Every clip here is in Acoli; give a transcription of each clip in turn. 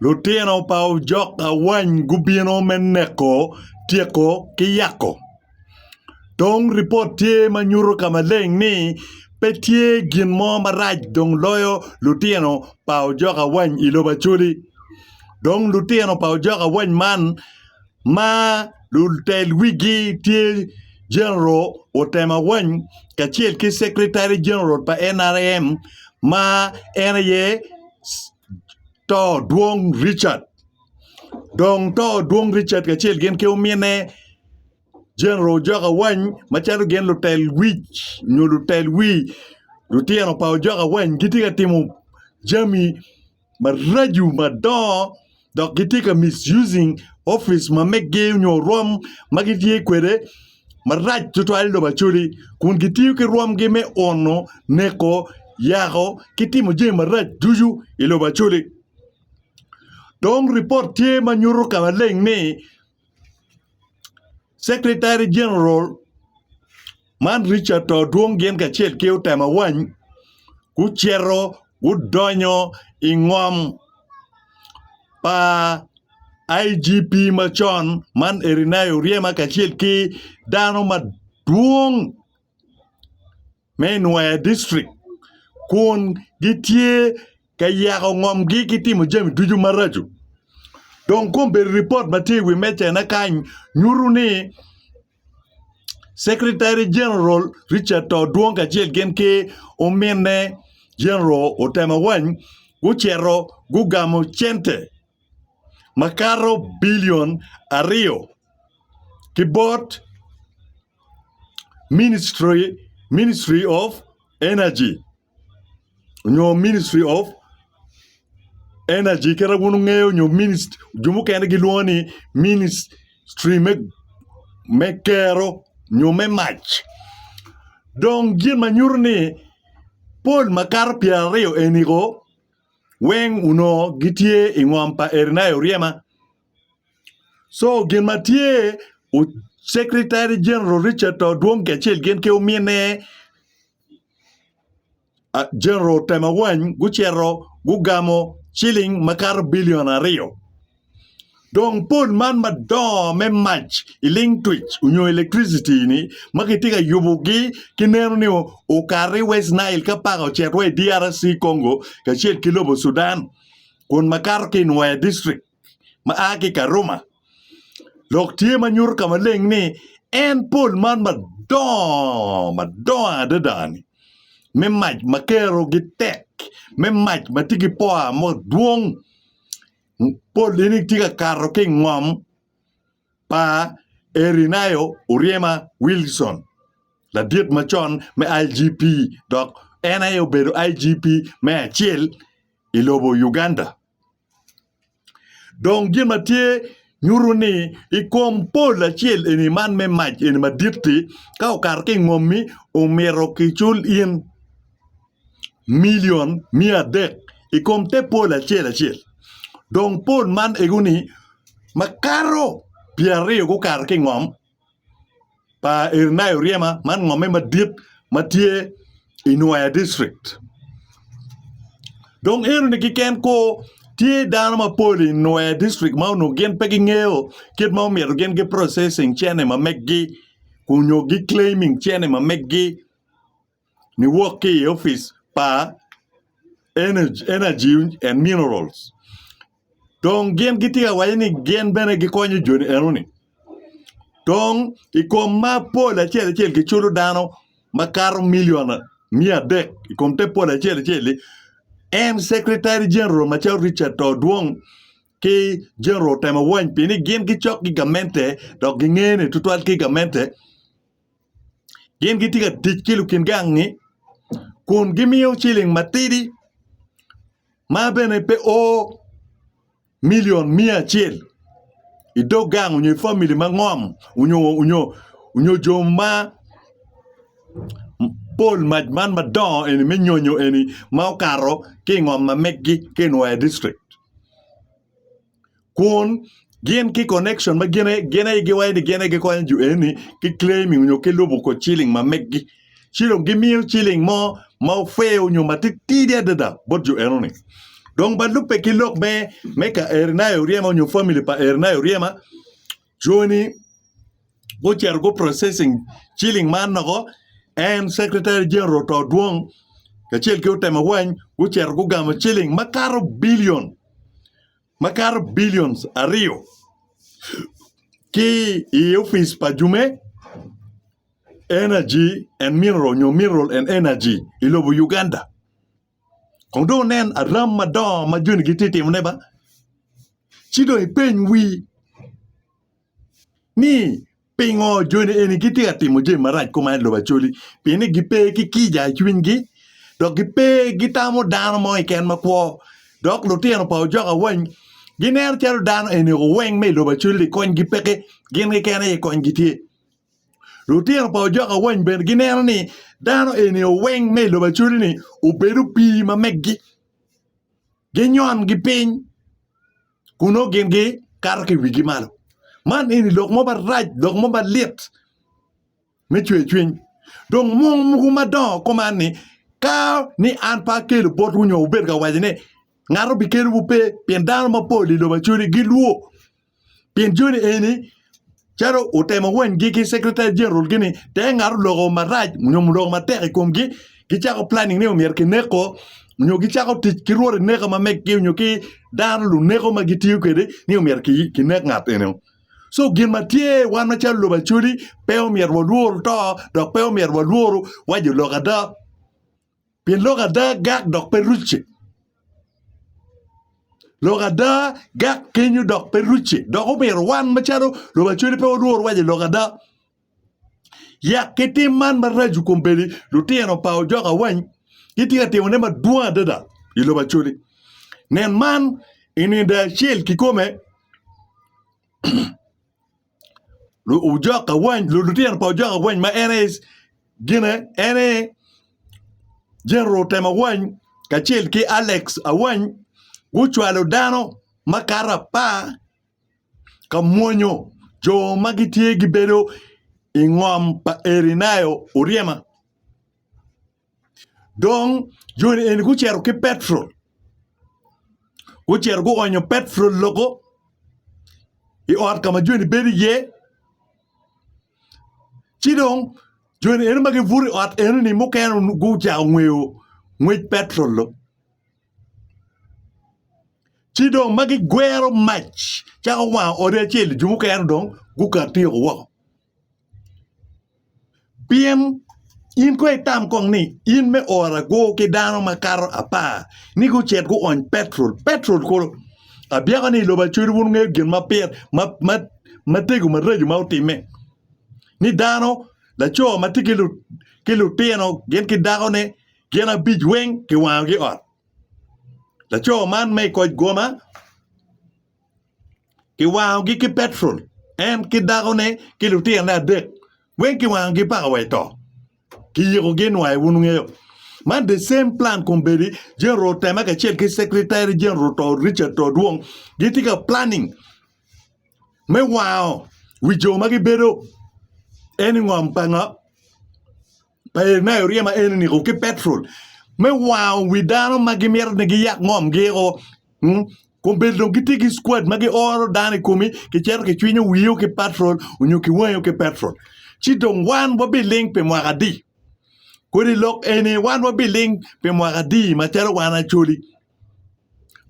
Lutino pa ojok awany gubino me neko, tyeko ki yako. Dong ripot tye ma nyuto ka maleng ni pe tye gin mo marac dong loyo lutino pa ojok awany i lobo Acholi. Dong lutino pa ojok awany man ma lutel wigi tye General Otema Wany kacel ki Secretary General pa nrm ma en aye To Dwong Richard dong To Dwong Richard kacel gin ki ominne General Ojok Awany macalo gin lutel wic nyo lutel wi lutino pa Ojok Awany gitye ka timo jami maraco madongo dok gitye ka misusing opic ma mege nyo rwom ma gitye kwede marac tutwal i lobo Acholi kun gitiyo ki rwomgi me ono, neko, yako ki timo jami marac ducu i lobo Acholi dong ripot tye ma nyuto ka maleng ni Secretary General man Richard to dwong gin kacel ki otemo awany gucito gudonyo i ngom pa IGP macon man Erinayo Oryema kacel ki dano madwong me Nwaya District kun gitye ka yako ngomgi ki timo jami ducu maraco. Dong kong bedo ripot ma tye i wi mejana kany nyuto ni Secretary General Richard To Dwong kacel gin ki ominne General Otemawany gucito gugamo cente makato bilion aryo ki bot Ministry of energy nyo ministry of energy kit ma wun wungeyo nyo jo mukene gilwongo ni ministry me kero nyo me mac dong gin ma nyuto ni pol ma kato pyeraryo eni weng onongo gitye i ngom pa Eric Oryema. Co gin ma tye Secretary General Richard to dwong kacel gin ki ominne General Temagwany gucito gugamo ciling makato bilion aryo dong pol man madongo me mac i ling twic onyo electricity ni ma kitye ka yubogi ki neno ni okati West Nile ka paka ocito wa i DRC Congo kacel ki lobo Sudan kun makato ki i Nwoya district. ma a ki i Karuma dok tye ma nyuto ka maleng ni en pol man madongo madongo adada-ni me mac ma kerogi tek, me mac ma tye ki powa madwong pol eni tye ka kato ki i ngom pa Erinayo Oryema Wilson ladit macon me IGP dok en aye obedo IGP me acel i lobo Uganda. Dong gin ma tye nyuto ni i kom pol acel eni man me mac eni madit-ti, ka okato ki i ngom-mi omyero kicul in milion miya adek i kom te pol acel acel. Dong pol man ego-ni makato pyeraryo gukato ki i ngom, pa Irinayo Ryema man ngomme madit ma tye i Nwoya district. Dong enoni keken kor tye dano mapol i Nwoya district ma onongo gin pe gingeyo kit ma omyero gin gi processing cene ma meggi nyo gi claiming cene ma meggi. niwok ki i opic pa Enaji end Mineral dong gin gitye ka waco ni gin bene gikonyo joni enoni dong i kom ma pol acel acel giculo dano makato milion miya adek i kom te pol acel acel-li en Secretary General macalo Richard to dwong ki General Temowony pi ni gin gicok ki gamente dok gingene tutwal ki gamente Gin gitye ka tic ki lukin gangi kun gimiyo ciling matidi ma bene pe o milion miya acel i dog gang nyo i famili ma ngom nyo jo ma pol mac man madongo eni me nyonyo eni ma okato ki i ngom ma megi ki i nwoya dictrict. kun gin ki connection ma gin aye giwaco ni gin aye gikonyo jo eni ki claiming nyo ki lubo kor ciling ma megi ci dong gimiyo ciling mo ma fair nyo matitidi adada bot jo enoni dong ba lubbe ki lok me ka Eri nai Oryema nyo family pa Eri nai Oryema Joni gucito gu processing ciling man noko en secretary general oto dwong kacel ki otemo awany gucito gugamo ciling makato billion makato billions aryo ki i opic pa jume energy and mineral nyo mineral and energy i lobo Uganda. Kong dong inen aram madongo ma joni gitye ka timone ba, ci dong ipeny wii ni pingo joni eni gitye ka timo jami marac kuman i lobo Acholi? Pien ni gipe ki kica i cwinygi dok gipe gitamo dano mo keken makwo. Dok lutino pa ojok awany gineno calo dano eni oweng me i lobo Acholi-li konygi peke, gin keken aye konygi tye. Lutino pa ojok awany bene gineno ni dano eni oweng me i lobo acoli-ni obed opii ma meggi. Ginyon ki piny kun nongo gin gikato ki i wigi malo. Man eni lok mo marac lok mo malit me cwercwiny dong mwong mogo madongo kuman ni ka ni an pe akelo botwu nyo wubed ka waco ni ngat obikelowu pe pien dano mapol i lobo acoli gilwor. pien joni eni calo otemo wanygi ki secretary general gi ni te ngat oloko marac nyo oloko matek i komgi gicako planning ni myero kineko nyo gicako tic ki rwot ineka ma meggi nyo ki dano luneko ma gitiyo kwede ni myero kinek ngat enino so gin ma tye wan macalo lobo Acholi pe omyero walwor to dok pe omyero walwor wa jo lok ada. Pien lok ada gak dok pe rucce. Lok ada gak kenyo dok pe rucce. Dok omyero wan macalo lubacodo pe walwor waco lok ada. Yak ki tim man maraco i kom bedi lutino pa ojok awany gitye ka timone madwong adada i lubacodi. Nen man i nino acel kikome. Ojok awany lutino pa ojok awany ma en aye gine en aye General Tem Awany kacel ki Alex Awany gucwalo dano makato apar ka mwonyo jo ma gitye gibedo i ngom pa Eri Nayo Oryema. Dong joni eni gucito ki Petero, gucito guonyo Petero loko i ot ka ma joni bedo iye. Ci dong joni eno ma gibuto i ot enoni mukene gucako ngweyo ngwec Petero lo. Ci dong ma gigwero mac cako wango odi acel-li, jo mukene dong guka tyeko woko. Pien in kong itam kong ni in me oro agor ki dano makato apar ni gucit guony petrol, petrol kulu abyeko ni i lobo acwele wun wungeyo gin ma pire ma tego maraco ma otime ni dano laco ma tye ki lutino gin ki dakone gin abic weng kiwangogi ot laco man ma i koc goma. Kiwangogi ki petrol, en ki dakone ki lutirone adek weng kiwangogi paka wa i to. Kiyikogi nwa aye wun wungeyo. Man the same plan kombeddi General Otema kacel ki Secretary General to Richard to Dwong gitye ka planning me wango wi jo ma gibedo eni ngom pa ngo? pa Enayo ryema enini ki petrol me wango wi dano ma gimito ni giyak ngomgio kun bene dong gitye ki squad ma gioro dano i komi kicito kicwinyo wio ki petrol nyo kiwango ki petrol ci dong wan wabiling pi mwaka adi kodi lok eni wan wabiling pi mwaka adi macalo wan Acholi.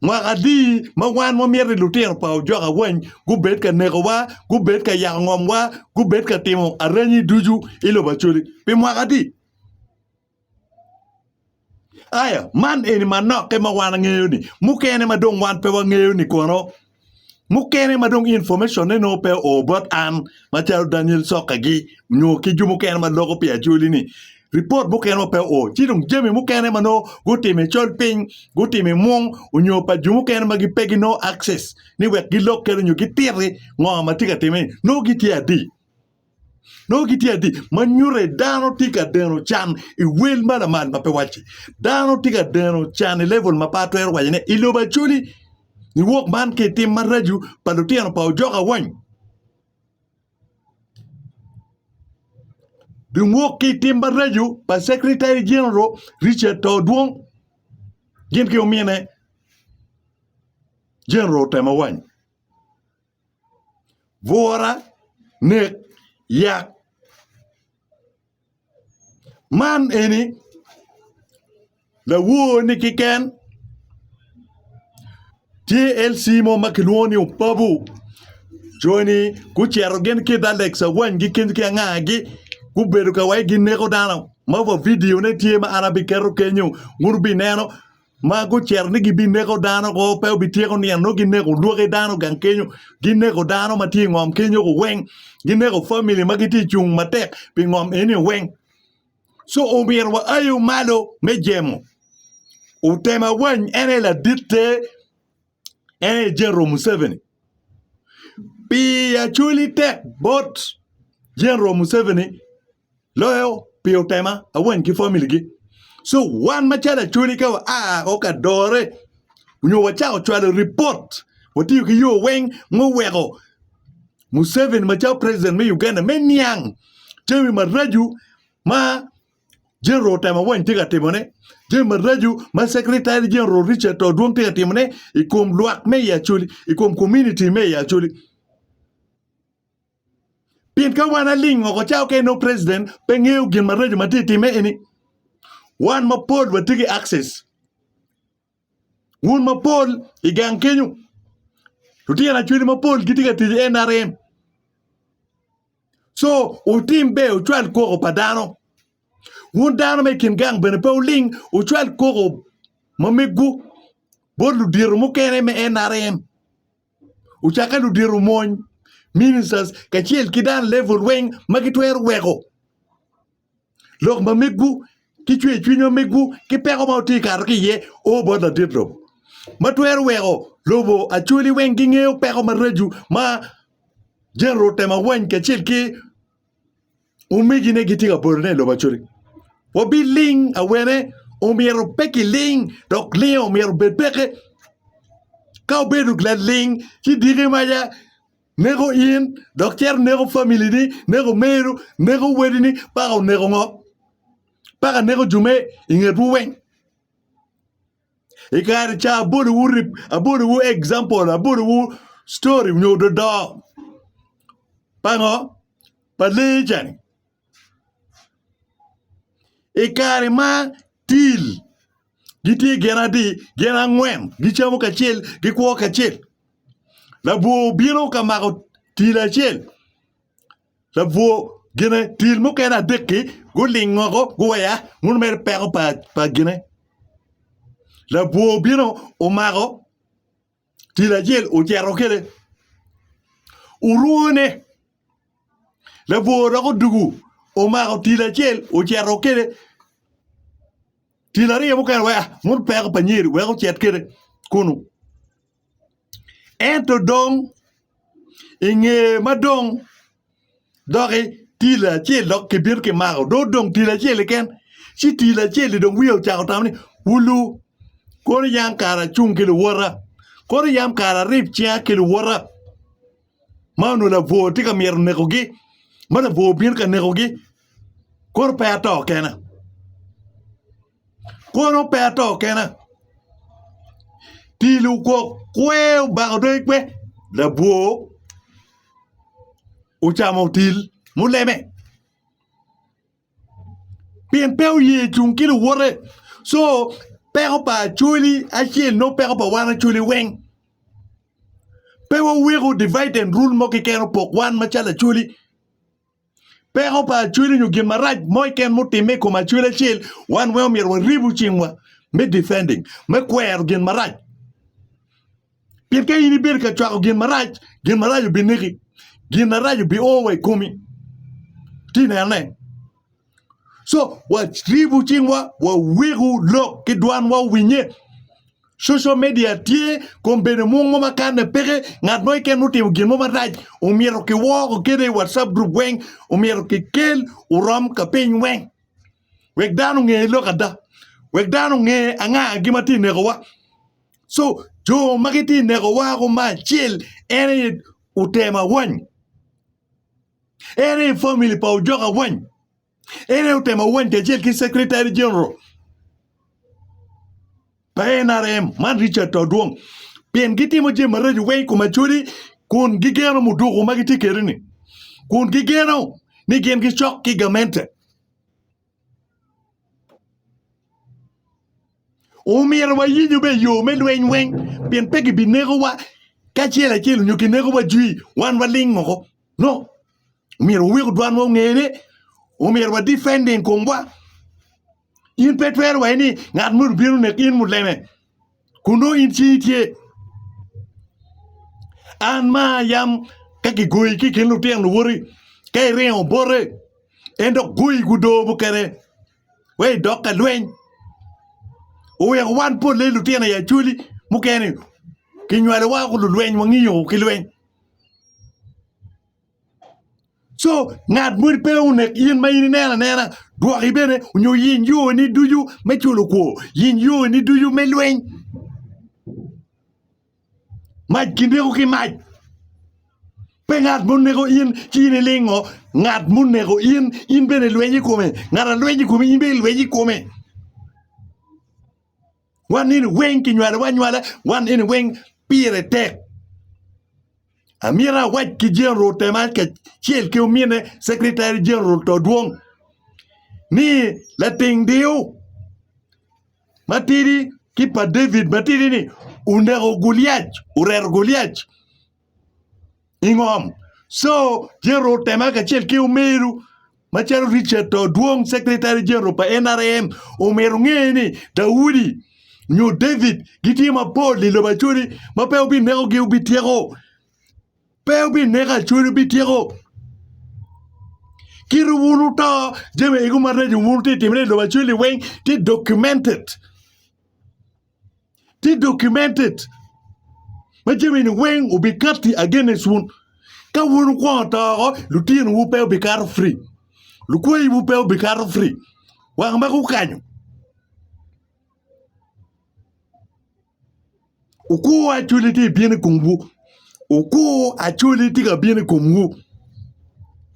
Mwaka adi ma wan wamito ni lutino pa ojok awany gubed ka nekowa, gubed ka yako ngomwa, gubed ka timo arenyi ducu i lobo Acholi? Pi mwaka adi? Aya, man eni manokke ma wan wangeyo-ni. Mukene ma dong wan pe wangeyo-ni kono? mukene ma dong information ne nongo pe oo bot an macalo Daniel Soka gi nyo ki jo mukene ma loko pi Acholi ni report mukene ma pe oo ci dong jami mukene ma nongo gutimo i col piny gutimo i mung onyo pa jo mukene ma pe gi nongo access ni wek gilok kene onyo gititi ngo ma tye ka timme ni nongo gitye adi. Nongo gitye adi ma nyuto ni dano tye ka deno can i wel ma lamal ma pe wacci? Dano tye ka deno can i level ma pe atwero waco ni i lobo Acholi, niwok man ki i tim maraco pa lutino pa ojok awany. Niwok ki i tim maraco pa Secretary General Richard To Odwong gin ki omine General Temawany. bwura, nek, yak. Man eni lawor-ni keken tye LC mo ma kilwongo ni opabu joni gucito gin ki i dog lake Cawany gikit ki angagi gubedo ka wai gineko dano ma wa vidio ne tye ma an abiketo kenyo wun wubineno. ma gucito ni gibineko dano woko, pe wubityeko niang nongo gineko lwaki dano gang kenyo, gineko dano ma tye i ngom kenyo weng, gineko famili ma gitye ka cung matek pi ngom eni weng. Ci omyero wa aye malo me jemo Temawany en aye laditte, en aye General Museveni. Pi acwali tek bot General Museveni. loyo pi otema awan ki family gi so wan macalo acholi ka wa a o ka dore nyo wacako cwalo report watiyo ki yo weng ma oweko Museveni macalo president me Uganda me niang jami maraco ma general otema awan tye ka timone jami maraco ma secretary general Richard Odwong tye ka timone i kom lwak me i acholi i kom community me i acholi Pien ka wan aling woko cawa ka inongo president pe ngeyo gin maraco ma tye ka timme eni, wan mapol watye ki access. Wun mapol i gang kenyo, lutino acholi mapol gitye ka tic i NRM. So wutim ber wucwal koko pa dano. Wun dano ma i kin gang bene pe wuling wucwal koko ma megwu bot ludito mukene me NRM. ocakke ludito mony, ministers, kacel ki dano level weng ma gitwero weko lok ma megwu ki cwercwiny ma megwu ki peko ma wutye ka kato ki iye o bot ladit lobo ma twero weko lobo Acholi weng gingeyo peko maraco ma General Temawany kacel ki Omegine gitye ka botone i lobo acoli. Wabiling awene omyero pe kiling dok linge omyero obed peke. Ka obedo laling ci diki maca neko in dok cito neko familini, neko meru, neko wadini paka oneko ngo? Paka neko jo me ingetwu weng. I kare ca abolowu rip, abolowu example, abolowu story nyo dodo pa ngo? Pa lee cani. I kare ma til gitye gin adi, gin angwen gicamo kacel, gikwo kacel. Labwor obino ka mako til acel. Labwor gine tyel mukene adek-ki guling woko guweya, muno mere peko pa gine. Labwor obino omako tyel acel ocito kwede, orwone. Labwor dok odwogo omako tyel acel ocito kwede, tyel aryo mukene oweya, muno peko pa nyer wek ocit kwede kunu. Ento dong i nge ma dong doki tilo acel dok kibino kimako dong odong tilo acel keken ci tilo acel-li dong wiye ocako tamo ni wulu kono yam kara acung ki luwota kono yam kara arib cinga ki luwota ma onongo labwor tye ka myero nekogi ma labwor bino ka nekogi kono pe ato kena. Kono pe ato kena. Pi lugok kwe obako dong ikwe. Labwor ocamo otil muleme. Pien pe oye cung ki luwote. So, peko pa Acholi acel nongo peko pa wan Acholi weng. Pe waweko divide and rule mo keken opok wan macalo Acholi. Peko pa acwele nyo gin marac mo keken ma otimme i kom acwele acel, wan weng omyero waribu cingwa me defending, me kwero gin marac. Pien ka in ibedo ka cwako gin marac, gin marac obineki, gin marac obi o wa i komi. Ati nene? Co, waribu cingwa, waweku lok ki dwanwa owinye. Social media tye kom bedo mung mo makanne peke ngat mo keken otimo gin mo marac omyero kiwoko kede i WhatsApp group weng omyero kikel orom ka piny weng wek dano onge lok ada wek dano onge anga gi ma tye nekowa so jo ma gitye nekowa ako ma acel en aye oter mawany. En aye famili pa ojok awany. En aye otemo awany kacel ki Secretary General pa NRM man Richard Todwong pien gitimo jami maraco weng i kom Acholi kun gigeno muduku ma gitye kwede-ni kun gigeno ni gin gicok ki gamente. Omyero wayinyu be i yo me lweny weng, pien pe gibinekowa ki acel acel nyo kinekowa jwi wan waling woko. No, omyero wawek odwanwa ongene, omyero wa defending komwa. In pe twero wa ni ngat moni obino neko in muleme. Kun nongo in cingi tye. An ma ayam ka kigoyi ki i kin lutino luwoti, ka iringo bote, en dok goyi gudo mukene wek idok ka lweny. Oweko wan polle i lutino i acwali mukene kinywalowa woko lulweny, wangiyo woko ki lweny. Co ngat moni pe onek in ma in ineno anena rwoki bene onyo yiny yoni ducu me culo kwor yiny yoni ducu me lweny mac kineko ki mac pe ngat ma oneko in ci in ilingo ngat ma oneko in in bene ilweny i kome ngat alweny i komi in bene ilweny i kome. Wan eni weng kinywalowa anywala, wan eni weng pire tek. Amito awac ki General Temal kacel ki omine Secretary General Todwong ni lating diu matidi ki pa David matidi ni oneko Guliac, oreto Guliac i ngom co general otema kacel ki omeru macalo Richard to dwong secretary general pa NRM omyero onge ni Daudi nyo David gitye mapol i lobo Acholi ma pe obinekogi obityeko pe obineko Acholi obityeko kit wun wuto jami egu ma reco wun tye timone i lobo Acholi weng tye documented. tye documented ma jamini weng obikatti against wun ka wun wukwongo to oko lutinowu pe obikato free lukwayiwu pe obikato free wang ma gukanyo okur acholi tye ka bino i komwu okur acholi tye ka bino i komwu.